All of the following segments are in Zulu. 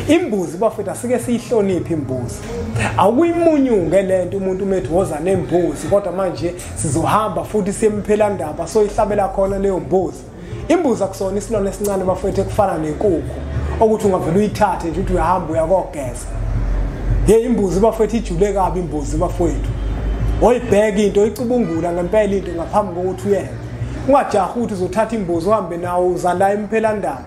imbuzi bafethu asike siyihloniphe imbuzi awukuyimunyunge le nto umuntu umethi woza nembuzi kodwa manje sizohamba futhi siyemphela ndaba soyihlabela khona leyo mbuzi imbuzi akusona isilwane esincane bafethu ekufana nenkukhu okuthi ungavele uyithathe nje ukuthi uyahamba uyakogeza ye imbuzi bafethu ijule kabi imbuzi bafethu oyibheka into oyicubungula ngempela into ngaphambi kokuthi uyenze ungajahi ukuthi uzothatha imbuzi uhambe nawo uzala emphelandaba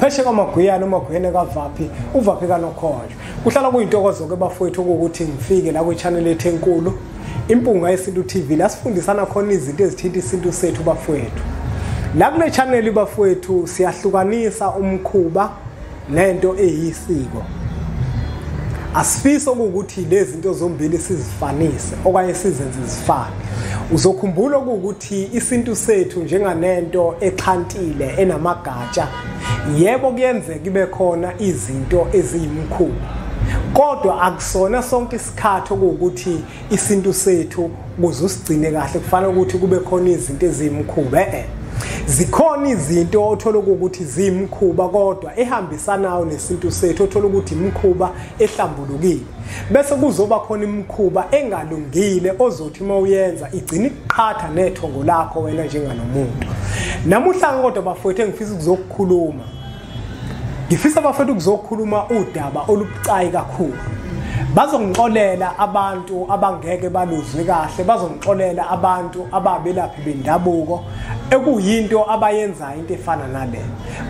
pheshe kwamagwiyana umagwiyane kavaphi uvaphi kanokhonjwa kuhlala kuyintokozo-ke bafowethu okuwukuthi ngifike la kwi-channel ethu enkulu impunga yesintu tv la sifundisana khona izinto ezithinta isintu sethu bafowethu la kule channel bafowethu siyahlukanisa umkhuba nento eyisiko asifisi okuwukuthi lezi zinto zombili sizifanise okanye sizenze zifane uzokhumbula okuwukuthi isintu sethu njenganento exhantile enamagama intsha yebo kuyenzeka ibe khona izinto eziyimkhulu kodwa akusona sonke isikhathi okuwukuthi isintu sethu kuze usigcine kahle kufanele ukuthi kube khona izinto eziyimkhuba e-e zikhona izinto othola ukuthi ziyimkhuba kodwa ehambisanayo nesintu sethu othola ukuthi imkhuba ehlambulukile bese kuzoba khona imikhuba engalungile ozothi uma uyenza igcina ikuqhatha nethongo lakho wena njenganomuntu namuhla kodwa bafowethu engifisa ukuzokukhuluma ngifisa bafowethu ukuzokukhuluma udaba olubucayi kakhulu bazongixolela abantu abangeke baluzwe kahle bazongixolela abantu ababelaphi bendabuko ekuyinto abayenzayo into efana nale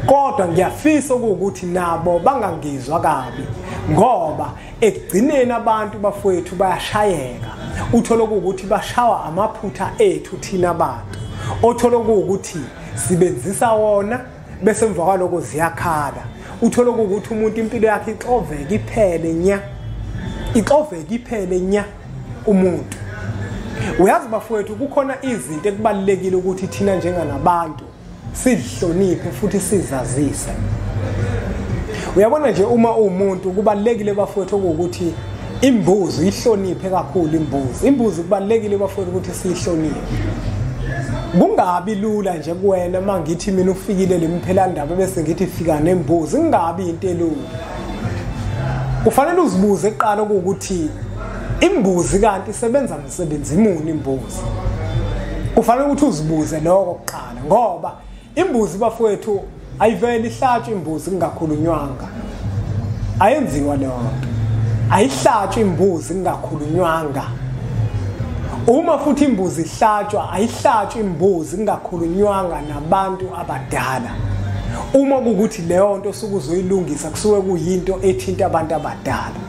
kodwa ngiyafisa ukuthi nabo bangangizwa kabi ngoba ekugcineni abantu bafowethu bayashayeka uthole ukuthi bashawa amaphutha ethu thina bantu othole ukuthi sibenzisa wona bese emva kwaloko ziyakhala uthole ukuthi umuntu impilo yakhe ixoveke iphele nya ixoveke iphele nya umuntu uyazi bafowethu kukhona izinto ekubalulekile ukuthi thina njenganabantu sizihloniphe futhi sizazise uyabona nje uma uwumuntu kubalekile bafowethu ukuthi imbuzi ihloniphe kakhulu imbuzi imbuzi kubalekile bafowethu ukuthi sihloniphe kungabi lula nje kuwena mangithi mina ufikile lemphela ndaba bese ngithi fika nembuzi kungabi into elula ufanele uzibuze eqala ukuthi imbuzi kanti isebenza Sebenza imuni imbuzi. Kufanele ukuthi uzibuze lokho kuqala ngoba imbuzi bafowethu ayiveli ihlatshwe imbuzi kungakhulunywanga. Ayenziwa leyo nto. Ayihlatshwe imbuzi kungakhulunywanga. Uma futhi imbuzi ihlatshwa ayihlatshwe imbuzi kungakhulunywanga nabantu abadala. uma kukuthi leyo nto osuke uzoyilungisa kusuke kuyinto ethinta abantu abadala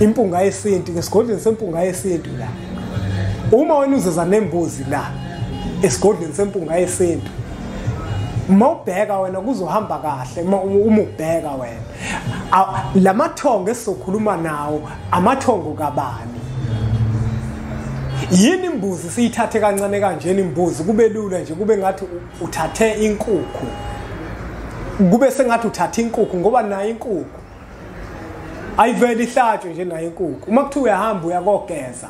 impunga yesintu ngesigodlweni sempunga yesintu la uma wena uzeza nembuzi la esigodlweni sempunga yesintu uma ubheka wena kuzohamba kahle uma ubheka wena la mathongo esizokhuluma nawo amathongo kabani yini imbuzi siyithathe kancane kanjena imbuzi kube lula nje kube ngathi uthathe inkukhu kube sengathi uthatha inkukhu ngoba nayo inkukhu ayivele ihlatshwe nje nayo inkukhu uma kuthiwa uyahamba uyakogeza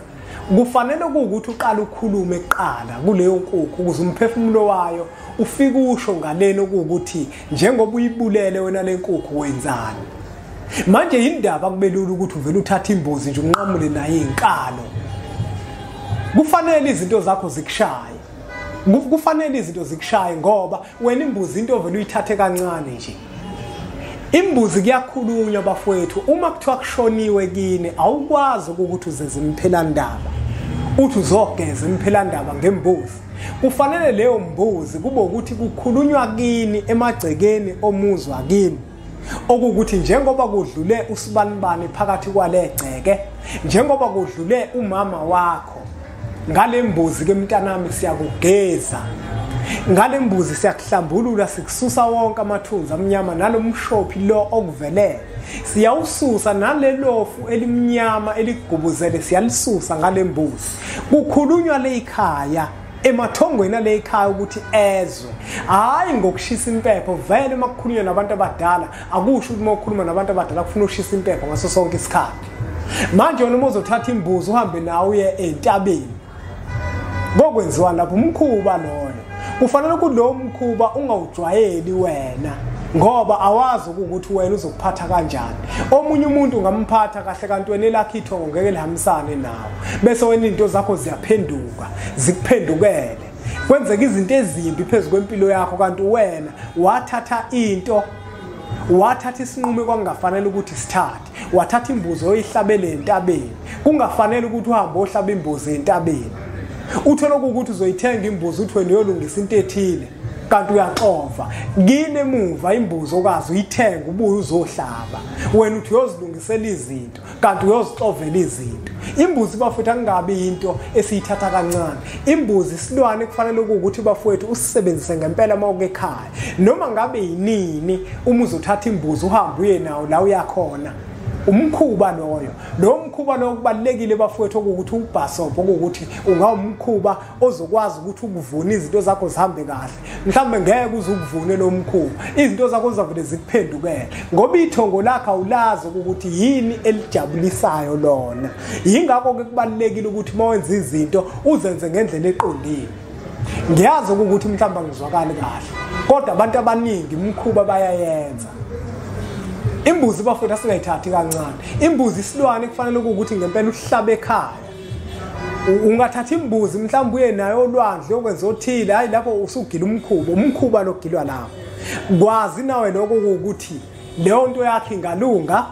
kufanele kuwukuthi uqala ukhulume kuqala kuleyo nkukhu ukuze umphefumulo wayo ufike usho ngaleni okuwukuthi njengoba uyibulele wena le nkukhu wenzani manje yindaba kubelula ukuthi uvele uthathe imbuzi nje unqamule naye inkalo kufanele izinto zakho zikushaye kufanele izinto zikushaye ngoba wena imbuzi into ovele uyithathe kancane nje imbuzi kuyakhulunywa bafowethu uma kuthiwa kushoniwe kini awukwazi ukuthi uzeze imphelandaba uthi uzogeza imphelandaba ngembuzi kufanele leyo mbuzi kube ukuthi kukhulunywa kini emagcekeni omuzwa kini okuwukuthi njengoba kudlule usibanibani phakathi kwale gceke njengoba kudlule umama wakho ngale mbuzi ke mntanami siyakugeza ngale mbuzi siyakuhlambulula sikususa wonke amathunzi amnyama nalo mshophi lo okuvelele siyawususa nalelofu elimnyama eligubuzele siyalisusa ngale mbuzi kukhulunywa leyikhaya emathongweni ale ikhaya ukuthi ezwe hhayi ngokushisa impepho vele uma kukhulunywa nabantu abadala akusho ukuthi uma ukhuluma nabantu abadala kufuna ushisa impepho ngaso sonke isikhathi manje wena uma uzothatha imbuzi uhambe nawe uye entabeni kokwenziwa lapho umkhuba loyo kufanele kulowo mkhuba ungawujwayeli wena ngoba awazi ukuthi wena uzokuphatha kanjani omunye umuntu ungamphatha kahle kanti wena elakhe ithongo ngeke lihambisane nawo bese wena into zakho ziyaphenduka zikuphendukele kwenzeka izinto ezimbi phezu kwempilo yakho kanti wena wathatha into wathatha isinqumo kwakungafanele ukuthi sithathe wathatha imbuzi oyihlabele entabeni kungafanele ukuthi uhambe ohlaba imbuzi entabeni uthole ukuthi uzoyithenga imbuzi uthi wena uyolungisa into ethile kanti uyaxova kini emuva imbuzi okazi uyithenga ubuye uzohlaba wena uthi uyozilungisela izinto kanti uyozixovela izinto imbuzi bafowethu akungabi yinto esiyithatha kancane imbuzi isilwane kufanele ukuthi bafowethu usisebenzise ngempela uma uke ekhaya noma ngabe yinini uma uzothatha imbuzi uhambe uye nawo la uyakhona umkhuba loyo lo mkhuba lowo kubalulekile bafowethu okuwukuthi ubhasobho okuwukuthi ungawumkhuba ozokwazi ukuthi ukuvune izinto zakho zihambe kahle mhlawumbe ngeke uze ukuvune lo mkhuba izinto zakho zizavele zikuphendukele ngoba ithongo lakhe awulazi ukuthi yini elijabulisayo lona yingakho-ke kubalulekile ukuthi uma wenza izinto uzenze ngendlela eqondile ngiyazi ukuthi mhlawumbe angizwakali kahle kodwa abantu abaningi umkhuba bayayenza imbuzi bafowethu asingayithathi kancane imbuzi isilwane kufanele ukuthi ngempela uhlabe ekhaya ungathatha imbuzi mhlawumbe uye nayo olwandle okwenza othile hhayi lapho usugila umkhuba umkhuba logilwa lapho kwazi nawe lokho kuwukuthi leyo nto yakhe ingalunga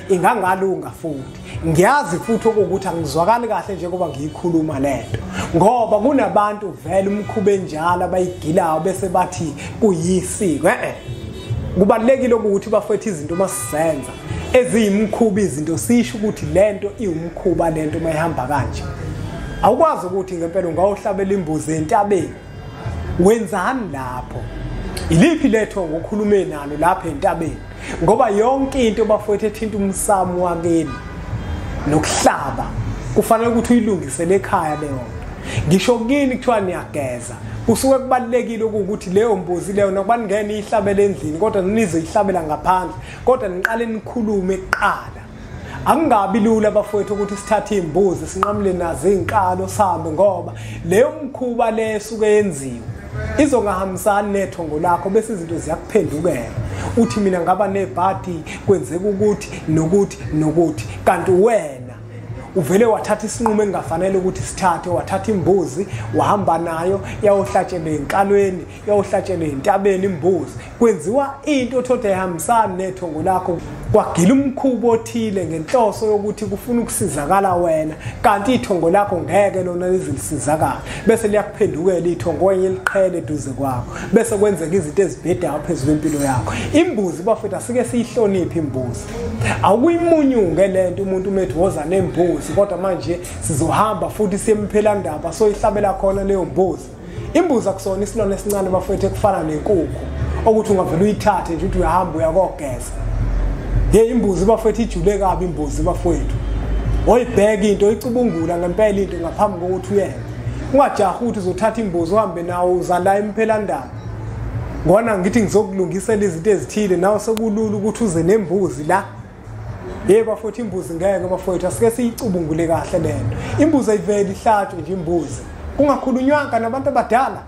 ingangalunga futhi ngiyazi futhi okuwukuthi angizwakali kahle njengoba ngiyikhuluma le nto ngoba kunabantu vele umkhuba enjalo abayigilayo bese bathi kuyisiko e-e kubalulekile ukuthi bafethe izinto uma sizenza eziyimkhuba izinto sisho ukuthi lento iwumkhuba lento uma ihamba kanje awukwazi ukuthi ngempela ungawuhlabela imbuzi entabeni wenzani lapho iliphi letho ngokhulume nalo lapha entabeni ngoba yonke into bafowethu ethinta umsamo wakini nokuhlaba kufanele ukuthi uyilungise lekhaya leyo nto ngisho kini kuthiwa niyageza kusuke kubalulekile ukuthi leyo mbuzi leyo nokuba ningene ihlabele endlini kodwa nizoyihlabela ngaphandle kodwa niqale nikhulume kuqala akungabi lula bafowethu ukuthi sithathe iy'mbuzi sinqamule nazo iy'nkalo sihambe ngoba leyo mkhuba le esuke yenziwe izongahambisani nethongo lakho bese izinto ziyakuphendukela uthi mina ngaba nebhadi kwenzeka ukuthi nokuthi nokuthi kanti wena uvele wathatha isinqumo engafanele ukuthi sithathe wathatha imbuzi wahamba nayo yawohlatshelwe enkalweni yawohlatshelwe entabeni imbuzi kwenziwa into othoda ihambisani nethongo lakho kwagila umkhubo othile ngenhloso yokuthi kufuna ukusizakala wena kanti ithongo lakho ngeke lona lizilisizakala bese liyakuphendukela ithongo wenye liqhele eduze kwakho bese kwenzeka izinto ezibhedayo phezu kwempilo yakho imbuzi bafethu asike siyihloniphe imbuzi awukuyimunyunge le nto umuntu umethi woza nembuzi kodwa manje sizohamba futhi siyemphelandaba soyihlabela khona leyo mbuzi Imbuzi akusona isilwane esincane bafethu ekufana nenkukhu okuthi ungavele uyithathe nje ukuthi uyahamba uyakogeza. Ye imbuzi bafethu ijule kabi imbuzi bafethu. Oyibheka into icubungula ngempela into ngaphambi kokuthi uyenze. Ungajaha ukuthi uzothatha imbuzi uhambe nawo uzala imphelandaba. Ngona ngithi ngizokulungisela izinto ezithile nawe sekulula ukuthi uze nembuzi la Hey bafowethu imbuzi ngeke bafowethu asike siyicubungule kahle lento. Imbuzi ayiveli ihlatshwe nje imbuzi. Kungakhulunywanga nabantu abadala.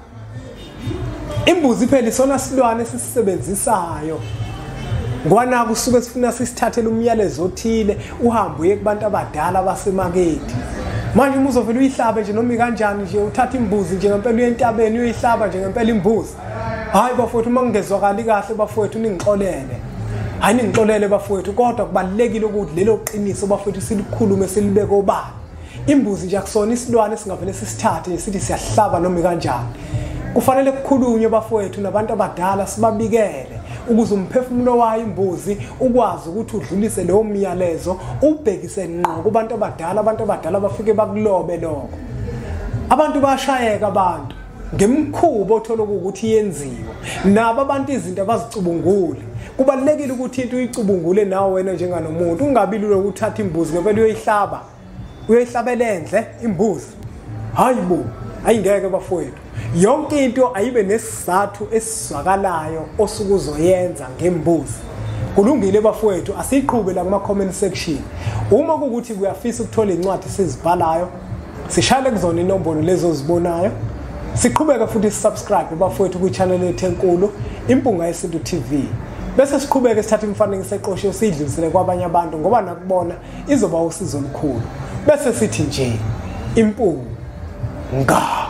Imbuzi phela isona silwane sisisebenzisayo. Ngwana kusuke sifuna sisithathele umyalezo othile uhambe uye kubantu abadala basemaketi. Manje umuzovela uyihlabe nje noma kanjani nje uthatha imbuzi nje ngempela uyentabeni uyihlaba nje ngempela imbuzi. hayi bafowethu uma ngingezwakali kahle bafowethu ningixolele hayi ningixolele bafowethu kodwa kubalulekile ukuthi lelo qiniso bafowethu silikhulume silibeke obani imbuzi nje akusona isilwane esingavele sisithathe nje sithi siyahlaba noma kanjani kufanele kukhulunywe bafowethu nabantu abadala sibabikele ukuze umphefumulo wayo imbuzi ukwazi ukuthi udlulise leyo myalezo ubhekise ngqo kubantu abadala abantu abadala bafike bakulobe lokho abantu bayashayeka abantu ngemkhuba othola ukuthi yenziwa nabo abantu izinto abazicubungule kubalekile ukuthi into uyicubungule nawe wena njenganomuntu ungabi lula ukuthatha imbuzi ngempela uyoyihlaba uyoyihlabela endle imbuzi hayi bo ayingeke bafowethu yonke into ayibe nesizathu esizwakalayo osuke uzoyenza ngembuzi kulungile bafowethu asiyiqhube la kuma comment section uma kukuthi kuyafisa ukuthola incwadi sizibhalayo sishale kuzona inombolo lezi ozibonayo siqhubeke futhi sisubscribe bafowethu kwichannel yethu enkulu impunga yesintu tv bese siqhubeke sithatha imifanekiso eqoshiwe siyidlulisele kwabanye abantu ngoba nakubona izoba usizo olukhulu bese sithi nje impunga